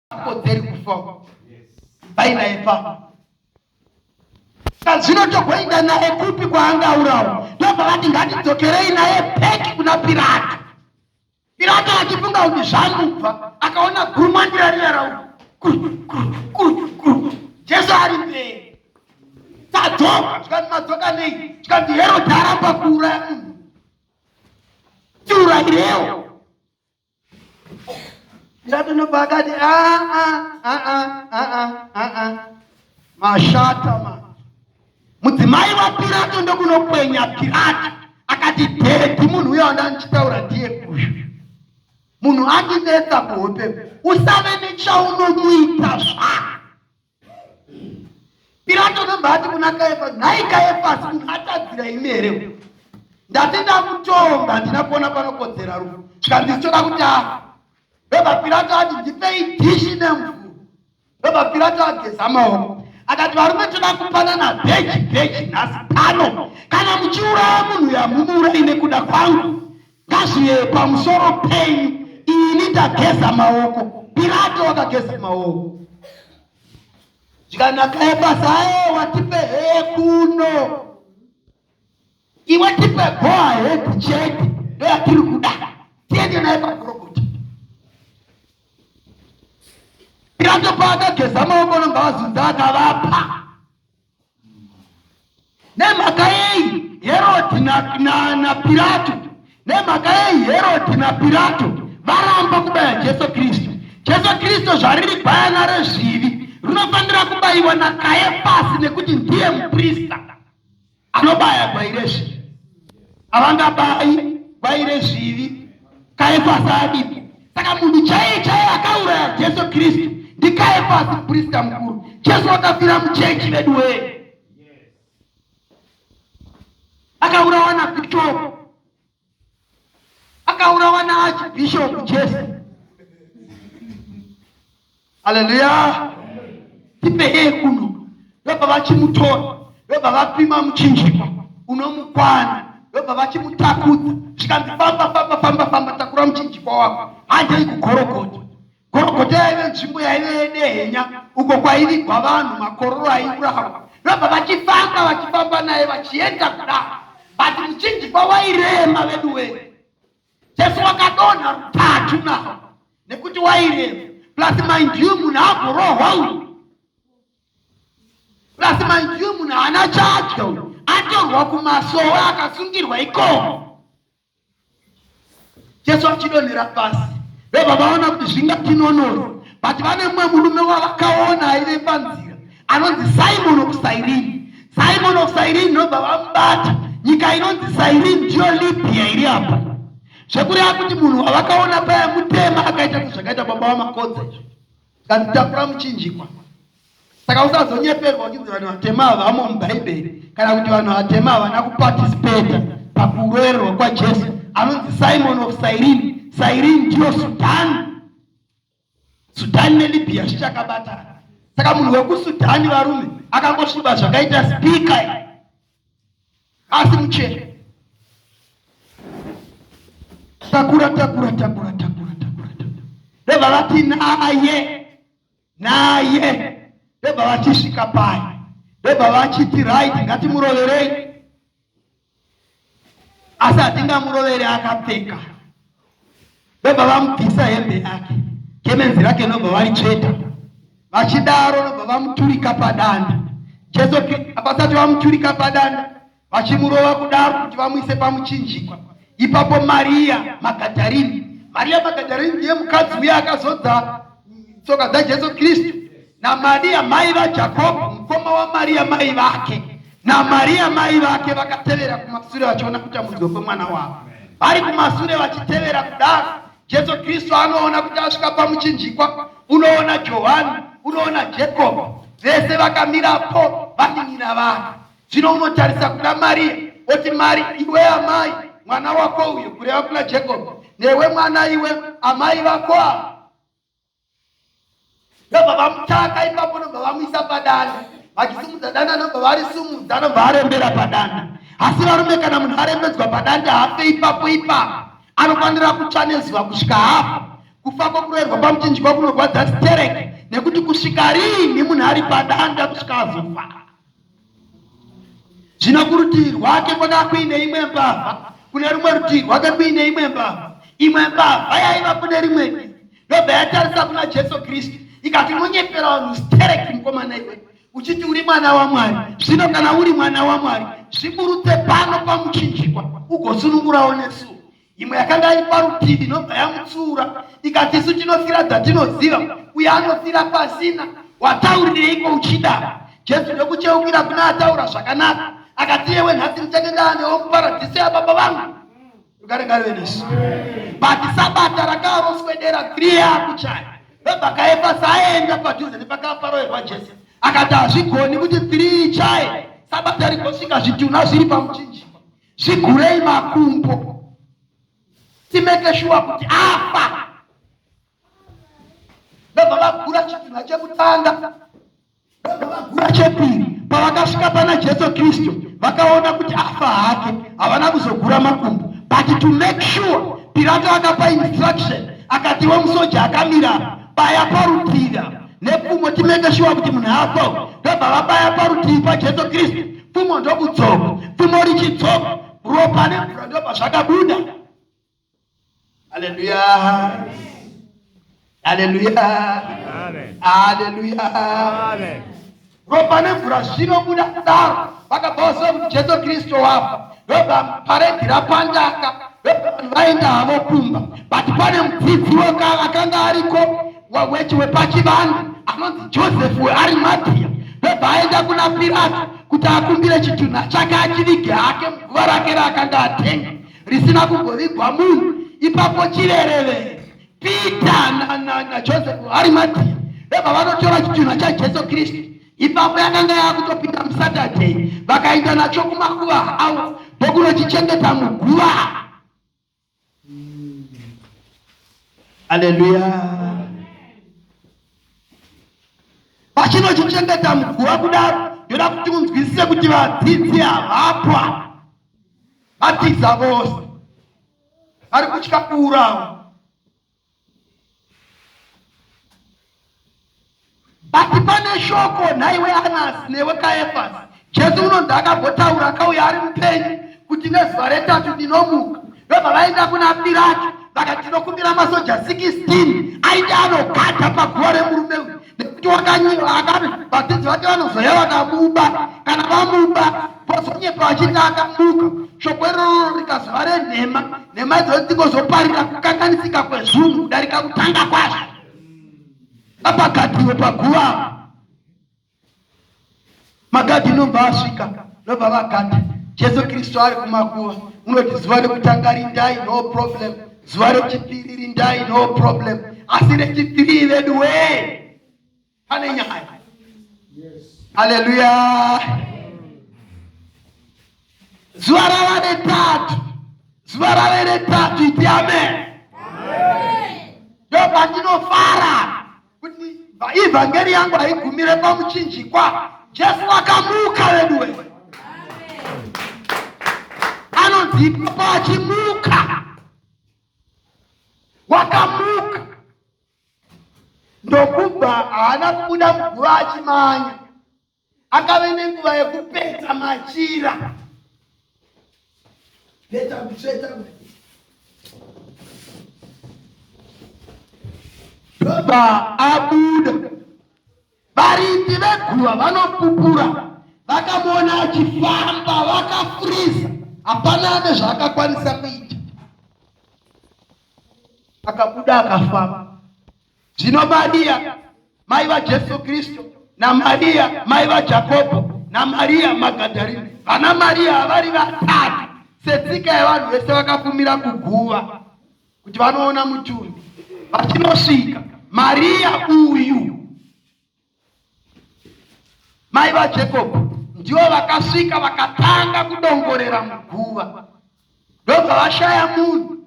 akodzeri kufa ibvai naye pamba kazvino togoinda naye kupi kwaangaurawo ndobva vati ngatidzokerei naye peki kuna pirato pirato achifunga kuti zvamubva akaona guruma ndirariyarau jesu ari mberi tadzoka tikati madzoka nei tikati herodhi aramba kuuraya munhu tiurayirewo Ndatonopa akati ah, ah, ah, mashata ma mudzimai waPirato ndokunokwenya Pirato akati dhedhi munhu uyo anda ndichitaura ndiye uyu munhu andinetsa kuhope usave nechaunomuita zvako Pirato anobva ati kuna Kayafasi, nhai Kayafasi, ungatadzira imi here? Ndati ndakutonga, handina kuona panokodzera rufu, zvikanzi zvichoda kuti afa. Ndobva Pirato ati, ndipei dhishi nemvuru. Ndobva Pirato ageza maoko akati, varume toda kupanana bheji bheji nhasi pano, kana muchiuraya munhu yamunouraya nekuda kwangu Kazviye pamusoro penyu ini ndageza maoko pirato wakageza maoko zvikanakaye pasaye watipe hekuno iwe tipe goa heku chete ndoyatiri kuda tiende naye pakorokota pirato paakageza maoko nongavazunza akavapa Nemhaka yei Herodi naPirato nemhaka yei Herodi naPirato varamba kubaya Jesu Kristu? Jesu Kristu zvariri gwayana rezvivi rinofanira kubayiwa naKayefasi nekuti ndiye muprista anobaya gwai rezvivi. havangabayi vaire zvivi kaefasi adipo saka munhu chaiye chaiye akauraya jesu kristu ndikaefasi prista mukuru jesu wakafira muchechi vedu wee akaurawa nabishop akaurawa naachbishop jesu haleluya tipehee kuno vabva vachimutora vabva vapima muchinjikwa unomukwana vabva vachimutakudza zvikanzi famba famba famba famba takura muchinjikwa wako handei kugorogota gorogota yaive nzvimbo yaive yedehenya uko kwaivigwa vanhu makororo aivuraha vabva vachifamba vachifamba naye vachienda kudaro but muchinjikwa wairema veduwee Jesu wakadonha rutatu na nekuti wairema plus mind you munhu agorohwa uyu plus mind you munhu haana chadya uyu atorwa kumasowe akasungirwa ikoko jesu achidonhera pasi vebva vaona kuti zvingatinonori but vane mumwe murume wavakaona aive panzira anonzi Simon of Cyrene. Simon of Cyrene ndobva vamubata. Nyika inonzi Cyrene ndiyo Libya iri apa. Zvekureva kuti munhu wavakaona paya mutema akaita sezvakaita baba vaMakodza izvo. Kanditakura muchinjikwa. Saka usazonyeperwa uchinzi vanhu vatema havamo muBhaibheri kana kuti vanhu vatema havana kuparticipate pakuroererwa kwaJesu. Anonzi Simon of Cyrene. Cyrene ndiyo Sudan. Sudhani neLibya zvichakabatana. Saka munhu wekuSudhani varume akangosviba zvakaita spika asi muchena. Takura takura takura takura takura takura. Ndobva vati naye naye ndobva vachisvika paye ndobva vachiti right ngatimuroverei asi hatingamuroveri akapfeka ndobva vamubvisa hembe yake kemenzi rake ndobva varitsveta vachidaro ndobva vamuturika padanda jesu vasati vamuturika padanda vachimurova kudaro kuti vamuise pamuchinjikwa ipapo mariya magadarini mariya magadarini ndiye mukadzi uye akazodza tsoka dzajesu kristu naMariya mai vaJakobho mukoma waMariya mai vake naMariya mai vake vakatevera kumasure vachiona kutambudzwa kwemwana wavo vari kumasure vachitevera kudaro jesu kristu anoona kuti asvika pamuchinjikwa unoona johani unoona jakobo vese vakamirapo vanin'ina vake zvino unotarisa kuna mariya oti mari iwe amai mwana wako uyo kureva kuna jakobo newe mwana iwe amai vako ava ndobva vamutaka ipapo nobva vamuisa padana vachisimudza dana nobva varisumudza nobva arembera padana asi varume kana munhu arembedzwa padanda hafe ipapo ipapo anofanira kutsva nezuva kusvika hafa kufa kwokurerwa pamuchinjikwa kunorwadza stereke nekuti kusvika riini munhu ari padanda kusvika azofa zvino kurutivi rwake kwakava kuine imwe mbavha kune rumwe rutivi rwake kuine imwe mbavha imwe mbavha yaiva kune rimwe divi yobva yatarisa kuna jesu kristu ikati unonyepera vanhu stereki mukomana iwe uchiti uri mwana wamwari zvino kana uri mwana wamwari zviburutse pano pamuchinjikwa ugosunungurawo nesuwo imwe yakanga iri parutivi inobva yamutsiura ikati isu tinofira dzatinoziva uye anofira pasina wataurireiko uchida jesu ndokucheukira kuna ataura zvakanaka akati yewe nhasi ndichake ndaanewo muparadhiso yababa vangu rugare ngarive nesu but sabata rakaaroswedera kriya kuchaya vebhakaefa saaenda padhuze nepakaparoerwa jesu akati hazvigoni kuti three chaye sabata rigosvika zvitunha zviri pamuchinjikwa Tigurei makumbo timeke shuwa kuti afa ndobva vagura chitunha chekutanga ndobva vagura chepiri pavakasvika pana jesu kristu vakaona kuti afa hake havana kuzogura makumbo but to make sure pirato akapa instruction akatiwe musoja akamira baya parutivi nepfumo timeke shuwa kuti munhu afa ndobva vabaya parutivi pajesu kristu pfumo ndokudzoka pfumo richidzoka ropa nemvura ndobva zvakabuda aleluya aleluya aleluya ropa nemvura zvinobuda kudaro vakabva vaziva kuti jesu kristu wavo ndobva paredhi rapandaka ndobva vanhu vaenda havo kumba but pane mudzidzi akanga ariko wechi wepachivanhu anonzi joseph wearimatia ndobva aenda kuna pirato kuti akumbire chitunha chake achivige hake muguva rake raakanga atenga risina kugovigwa munhu ipapo chirerevere Peter na, na, na Joseph vari madii ndobva vanotora chitunha chaJesu Kristu ipapo yakanga yakutopinda muSaturday vakaenda nacho kumakuva avo ndokunochichengeta muguva. Haleluya. Vachinochichengeta muguva kudaro ndoda kuti munzwisise kuti vadzidzi havapwa vatiza vose ari kutya kuurawa but pane shoko nhaiwe anasi newe kaefasi jesu unonzi akambotaura akauya ari mupenyu kuti nezuva retatu ndinomuka vebva vaenda kuna pirato vakati tinokumbira masoja 16 aite anogata paguva remurume uyu nekuti wakanyura akati vadzidzi vake vanozoya vakabuba kana vamuba vozonyepa vachiti akabuka shoko irororo rikazova renhema nhema idzoo dzingozoparira kukanganisika kwezvunhu kudarika kutanga kwazvo apagatiwe paguva Magadhi nobva asvika nobva vagadhi Jesu Kristu ari kumakuva unoti zuva rekutanga rindai no problem zuva rechipiri rindai no problem asi rechipiri vedu we pane nyaya haleluya zuva rava retatu zuva rave retatu iti amen ndobva ndinofara kuti ivhangeri yangu haigumire pamuchinjikwa jesu akamuka veduwe anonzi ipapo achimuka wakamuka ndokubva haana kubuda muguva achimanya akave nenguva yekupeta machira peta kutsveta ndobva abuda varindi veguva vanopupura vakamuona achifamba vakafuriza hapana ane zvaakakwanisa kuita akabuda akafamba Zvino Maria mai vaJesu Kristu naMaria mai vaJakobho naMaria Magadharina, vana Maria havari vatatu setsika yevanhu vese vakafumira kuguva kuti vanoona mutumbi. Vachinosvika Maria uyu mai vaJakobho ndivo vakasvika vakatanga kudongorera muguva ndobva vashaya munhu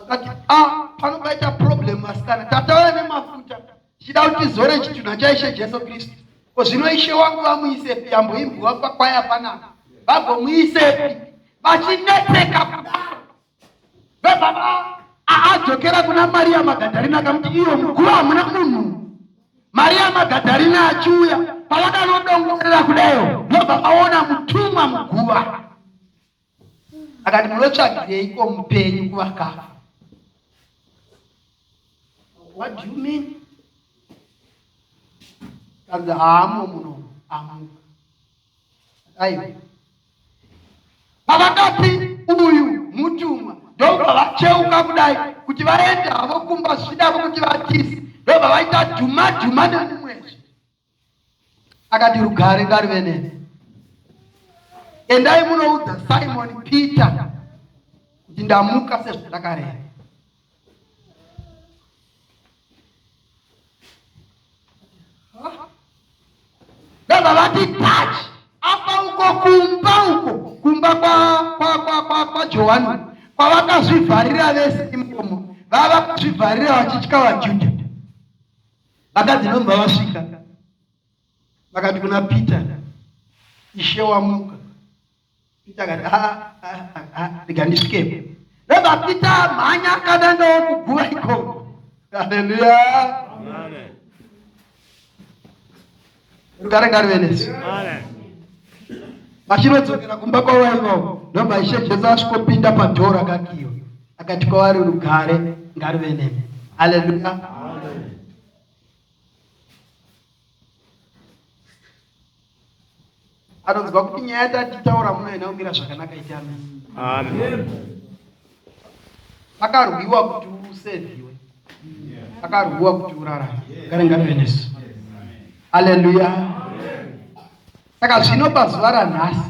vakati ah, pano paita problem vasikana tatauya nemafuta tichida kuti tizore chitunha chaishe jesu kristu ko zvino ishe wangu vamuisepi yamboimbwa pakwaya panapa vagomuisepi vachinetseka kudaro vebaba aadzokera kuna mariya magadharina akamuti iyo muguva hamuna munhu mariya magadharina achiuya pavakanodongorera kudayo ndobva vaona mutumwa muguva akati munotsvagireiko mupenyu kuvakafa what do you mean kanzi haamo muno amuka aiwa pavakati uyu mutumwa ndobva vacheuka kudai kuti vaenda havo kumba zvichidavo kuti vatisi ndobva vaita dhuma dhuma nemumwezve akati rugare ngaruve neni endai munoudza simon peter kuti ndamuka sezvandakareva ndobva vati touch apa uko kumba uko kumba kwajohani kwavakazvivharira vese imomo vava kuzvivharira vachitya vajudha vakadzi ndomva vasvika vakati kuna peter ishe wamuka peter akati ah, ah, ah, rega ndisvikepo ndomva peter mhanya kana ndokuguva ikoko haleluya Rugare ngarive nesu. Vachinodzokera kumba kwavaiva ndobva Ishe Jesu asvikopinda padhoo rakakiwa akati kwavari rugare ngarive nemi. Haleluya. anonzwa kuti nyaya yatataura muno ina kumira zvakanaka iti amen akarwiwa kuti usevhiwe akarwiwa kuti urarame gare ngave nesu aleluya saka zvino pazuva ranhasi